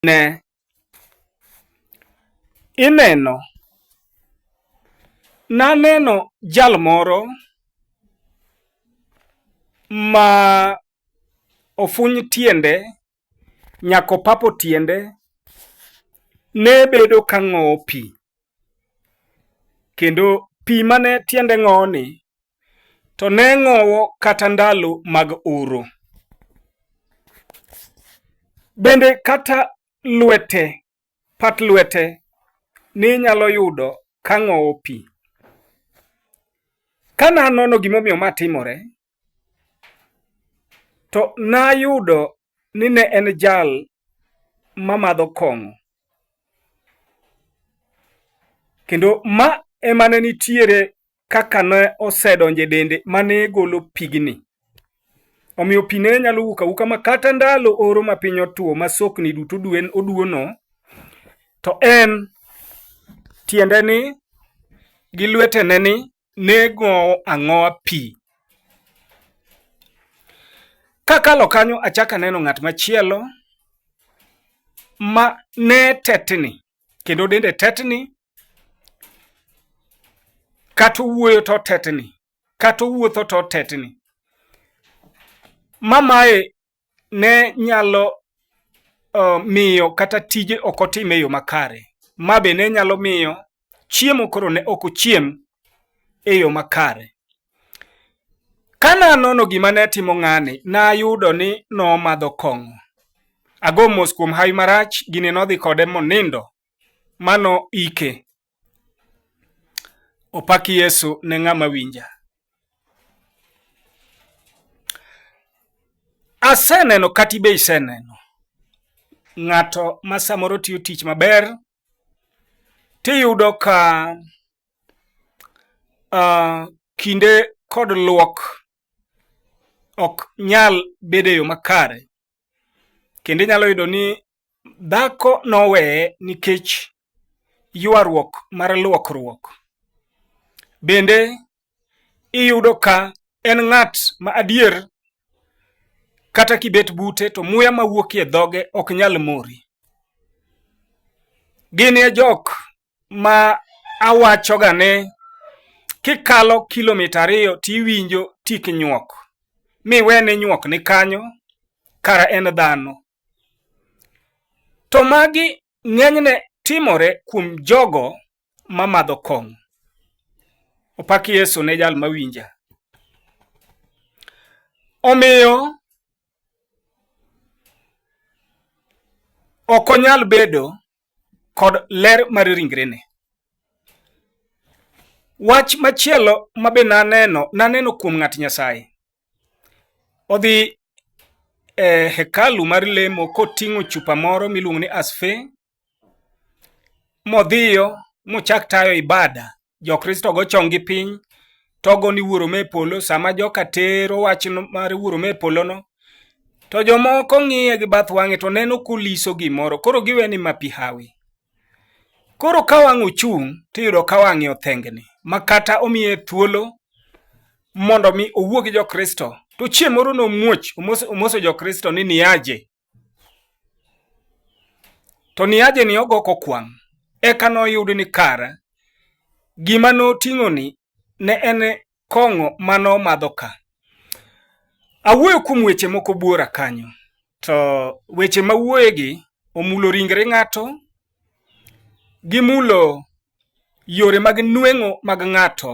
ne ineno. Naneno jal moro ma ofuny tiende nyaka opapo tiende ne bedo ka ng'owo pi kendo pi mane tiende ng'owoni to ne ng'owo kata ndalo mag oro. Bende kata lwete, pat lwete ninyalo yudo ka ng'owo pi. Ka nanono gimomiyo ma timore, to nayudo ni ne en jal mamadho kong'o. Kendo ma emane nitiere kaka ne osedonjo e dende ma ne golo pigni. Omiyo pi ne nyalo wuok awuka ma kata ndalo oro ma piny otwo ma sokni duto duen oduono, to en tiende ni gi lwetene ni ne gowo ang'owa pi. Kakalo kanyo achako aneno ng'at machielo ma ne tetni kendo dende tetni kata owuoyo to tetni kata owuotho to tetni mamae ne nyalo uh, miyo kata tije ok otim e yo makare ma be ne nyalo miyo chiemo koro ne ok ochiem e yo makare Ka nanono gima ne timo ng'ani, nayudo ni nomadho kong'o. Ago mos kuom hawi marach, gini nodhi kode monindo ma noike. Opak Yesu ne ng'ama winja. Aseneno kata ibe iseneno ng'ato ma samoro tiyo tich maber tiyudo ka uh, kinde kod luok ok nyal bedo e yo makare kendo inyalo yudo ni dhako noweye nikech ywaruok mar luokruok bende iyudo ka en ng'at ma adier kata kibet bute to muya mawuokie dhoge ok nyal mori gin e jok ma awachoga ni kikalo kilomita ariyo tiwinjo tik nyuok miwe ni nyuok ni kanyo kara en dhano to magi ng'enyne timore kuom jogo ma madho kong'o opak yesu ne jal mawinja omiyo ok onyal bedo kod ler mar ringrene. Wach machielo ma be naneno, naneno kuom ng'at Nyasaye. Odhi e hekalu mar lemo koting'o chupa moro miluongo ni asfe, modhiyo mochak tayo ibada jokristo go chong gi piny togo ni wuoro me polo sama joka tero wach mar wuoro me polo no to jomoko ng'iye gi bath wang'e to neno kuliso gimoro koro giwe ni mapi hawi koro ka wang' ochung' tiyudo ka wang'e othengni ma kata omiye thuolo mondo mi owuo gi jokristo to chieng' moro nomuoch omoso jokristo ni niaje To niaje ni ogo kokwang', eka noyud ni kar gima noting'oni ne en kong'o ma nomadho ka. Awuoyo kuom weche moko buora kanyo, to weche ma wuoyegi omulo ringre ng'ato, gimulo yore mag nweng'o mag ng'ato,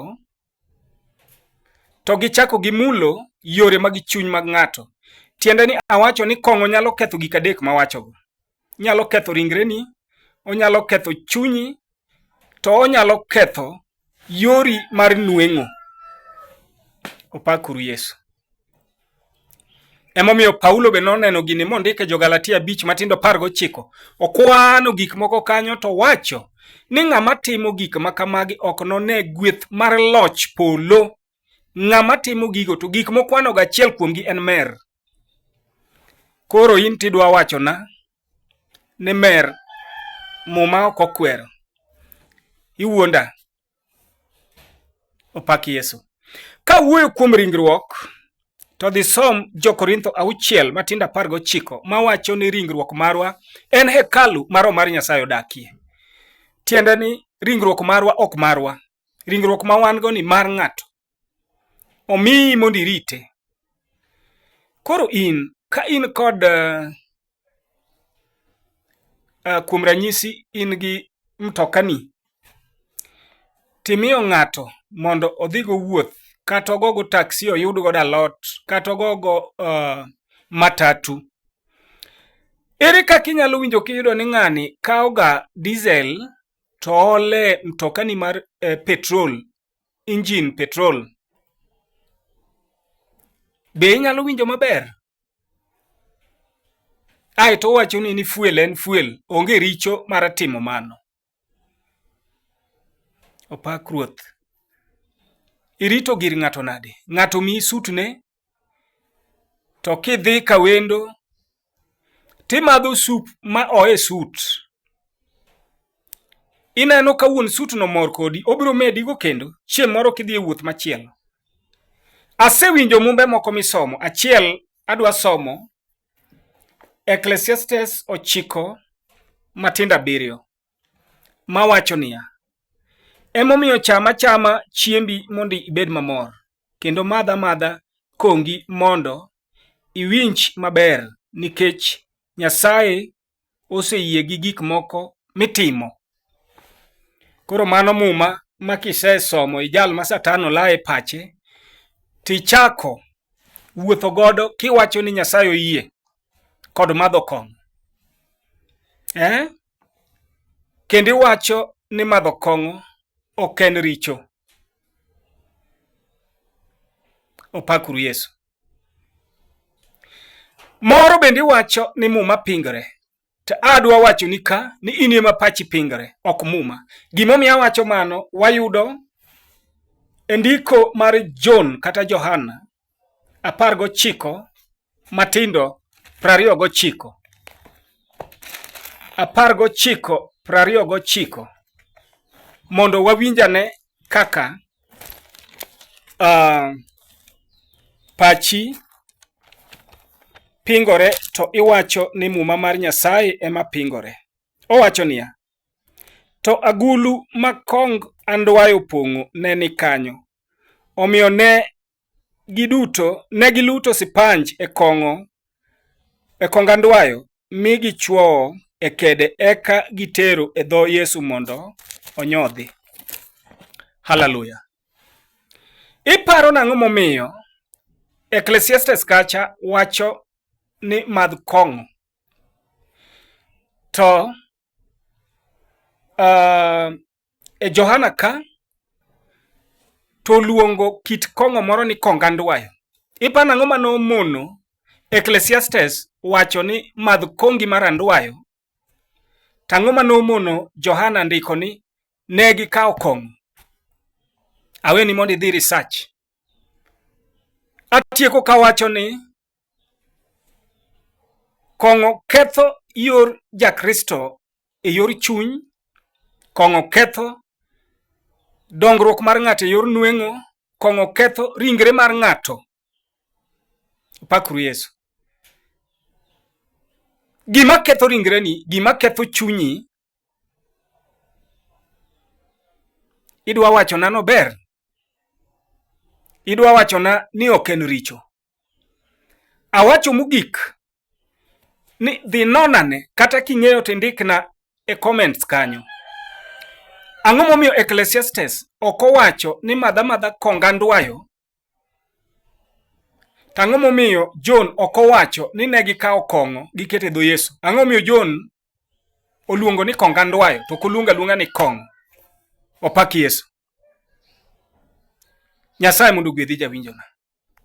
to gichako gimulo yore mag chuny mag ng'ato. Tiende ni awacho ni kong'o nyalo ketho gik adek mawachogo. Nyalo ketho ringreni, onyalo ketho chunyi, to onyalo ketho yori mar nweng'o. Opakuru Yesu. Emomiyo Paulo be noneno gini mondike jo-Galatia abich matindo apar gochiko. Okwano gik moko kanyo to wacho ni ng'ama timo gik ma kamagi ok none gweth mar loch polo. Ng'ama timo gigo to gik mokwanogo achiel kuomgi en mer. Koro in tidwa wachona ni mer muma ok okwero. Iwuonda. opak yesu ka wuoyo kuom ringruok to dhi som jokorintho auchiel matindo apar gochiko mawacho ni ringruok marwa en hekalu ma roho mar nyasaye odakie tiende ni ringruok marwa ok marwa ringruok ma wan go ni mar ng'ato omiyi mondo irite. Koro in ka in kod uh, uh, kuom ranyisi in gi mtokani timiyo ng'ato mondo odhigo wuoth kata ogogo taksi oyud godo alot kata ogogo uh, matatu ere kaka inyalo winjo kiyudo ni ng'ani kawoga diesel to ole mtokani mar uh, petrol injin petrol. Be inyalo winjo maber? Ae to owacho ni ni fuel en fuel, onge richo mar timo mano. Opak ruoth. Irito gir ng'ato nade? Ng'ato mi sutne to kidhi ka wendo timadho sup ma oe sut ineno ka wuon sut no mor kodi obiro medigo kendo chieng' moro kidhi e wuoth machielo asewinjo mumbe moko misomo achiel adwa somo ecclesiastes ochiko matindo abiriyo mawacho niya, Emomiyo cham achama chiembi mondo ibed mamor, kendo madh amadha kongi mondo iwinj maber nikech Nyasaye oseyie gi gik moko mitimo. Koro mano muma ma kisesomo i jal ma Satan olaye pache, tichako wuotho godo kiwacho ni Nyasaye oyie kod madho kong'o. Eh? kendo iwacho ni madho kong'o ok en richo. Opakuru Yesu. Moro bende iwacho ni muma pingore. To adwa wacho ni ka ni in ema pachi pingore, ok muma. Gimomiyo awacho mano, wayudo e ndiko mar John kata Johana apar gochiko matindo prariyo gochiko apar gochiko prariyo gochiko mondo wawinjane kaka uh, pachi pingore to iwacho ni muma mar Nyasaye ema pingore. Owacho niya, to agulu ma kong andwayo pong'o ne ni kanyo, Omiyo ne giduto ne giluto sipanj e kong'o e kongandwayo mi gichwowo e kede eka gitero e dho Yesu mondo onyodhi. Haleluya! Iparo nang'o momiyo Ecclesiastes kacha wacho ni madh kong'o? To uh, e Johana ka to oluongo kit kong'o moro ni kongandwayo. Ipano ang'o mane omono Ecclesiastes wacho ni madh kongi mar andwayo? To ang'o mane omono Johana ndiko ni ne gikawo kong'o? Aweni mondo idhi research. Atieko kawacho ni Kong'o ketho yor Jakristo e yor chuny, kong'o ketho dongruok mar ng'ato e yor nweng'o, kong'o ketho ringre mar ng'ato. Pakuru Yesu. Gima ketho ringreni, gima ketho chunyi, idwa wachona nober? Idwa wachona ni ok en richo? Awacho mogik ni dhi nonane kata king'eyo to indikna e comments kanyo. Ang'o momiyo Ecclesiastes ok owacho ni madha madha konga ndwayo? To ang'o momiyo John ok owacho ni ne gikawo kong'o gikete dho Yesu? Ang'o momiyo John oluongo ni konga ndwayo to ok oluongo aluonga ni kong'o? Opak Yesu. Nyasaye mondo ogwedhi jawinjona.